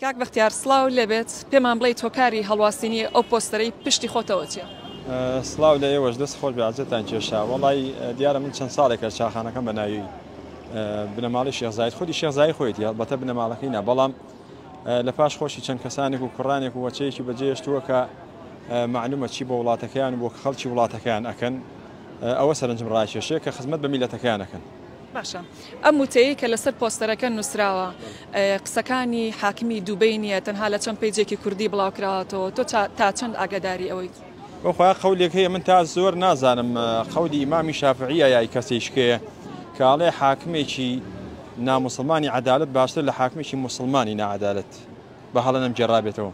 کاک بەختیار سڵاوت لێبێت پێمان بڵێیت هۆکاری هەڵواسینی ئەو پۆستەرەی پشتی خۆتەوە چیە؟ سڵاو لە ئێوەش دەست خۆش بەعزێتان کێشا وڵی دیارە من چەند ساڵێکە چاخانەکەم بە ناوی بنەماڵی شێخزایت خودی شێخزای خۆیت یا بەتە بنەماڵەکەی نا بەڵام لە پاش خۆشی چەند کەسانێک و کوڕانێک و وەچەیەکی بەجێشتووە کە معلومە چی بۆ وڵاتەکەیان بۆ خەڵکی وڵاتەکەیان ئەکەن ئەوە سەرنجم ڕاکێشێ کە خزمەت بە میلەتەکەیانەکەن باشە ئەم وتەیەی کە لەسەر پۆستەرەکە نوسراوە قسەکانی حاکمی دوبەی نیە تەنها لە چەند پەیجێکی کوردی بڵاوکراوەتەوە تۆ تا چەند ئاگاداری ئەوەیت؟ بەخوای قەولێک هەیە من تا زۆر نازانم قەولی ئیمامی شافعیە یای کەسیشکێ کە ئەڵێ حاکمێکی ناموسڵمانی عدالت باشتر لە حاکمێکی موسڵمانی نەعادالت بە هەڵە نەم گێڕابێتەوە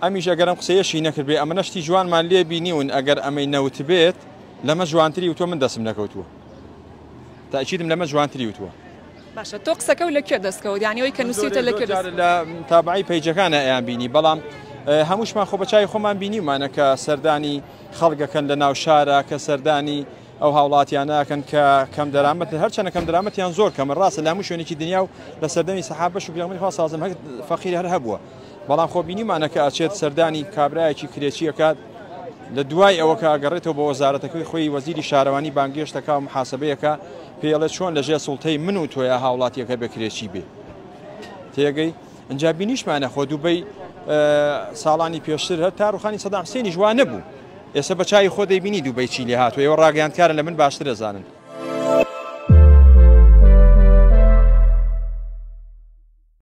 ئەمیش ئەگەرم قسەیەشی نەکردێ ئەمە نەشتی جوانمان لێ بینیون ئەگەر ئەمەی نەوت بێت لەمە جوانتری و تۆ من دەسم نەکەوتووە تاکیدم لەمە جوانتری وتوە. باشە تۆ قسەکە و لە کوێ دەستکەوت یانی ئەوی کە نووسیتە لە کوێ لە تابعی پەیجەکانە ئەیان بینی بەڵام هەمووشمان خۆ بەچوی خۆمان بینیمانە کە سەردانی خەڵگەکەن لە ناو شارە کە سەردانی ئەو هاوڵاتیانەکەن کە کەم دەرامەت هەرچەنە کەم درامەتیان زۆر کەمە ڕاستە لە هەموو شوێنێکی دنیا و لە سەردەمی سەحاب بەش و پێغمی خوا سازم هەر فەقیر هەر هەبووە بەڵام خۆ بینیمانە کە ئەچێت سەردانی کابرایەکی کرێچی ئەکات لە دوای ئەوە کە ئەگەڕێتەوە بە وەزارەتەکەی خۆی وەزیری شارەوانی بانگێشتەکە و محاسبەیەکە پێڵێ چۆن لەژێ سوڵتەی من و تۆیا هاوڵاتیەکە بێ کرێچی بێ تێگەی ئەجا بینیشمانە خۆ دوبەی ساڵانی پێشتر هەر تا ڕوخانی سەدام حسێنی جوان نەبوو ئێستا بە چای خۆ دەیبینی دوبەی چی لێ هاتووە ئێوە ڕاگەیاندکارن لە من باشتر دەزانن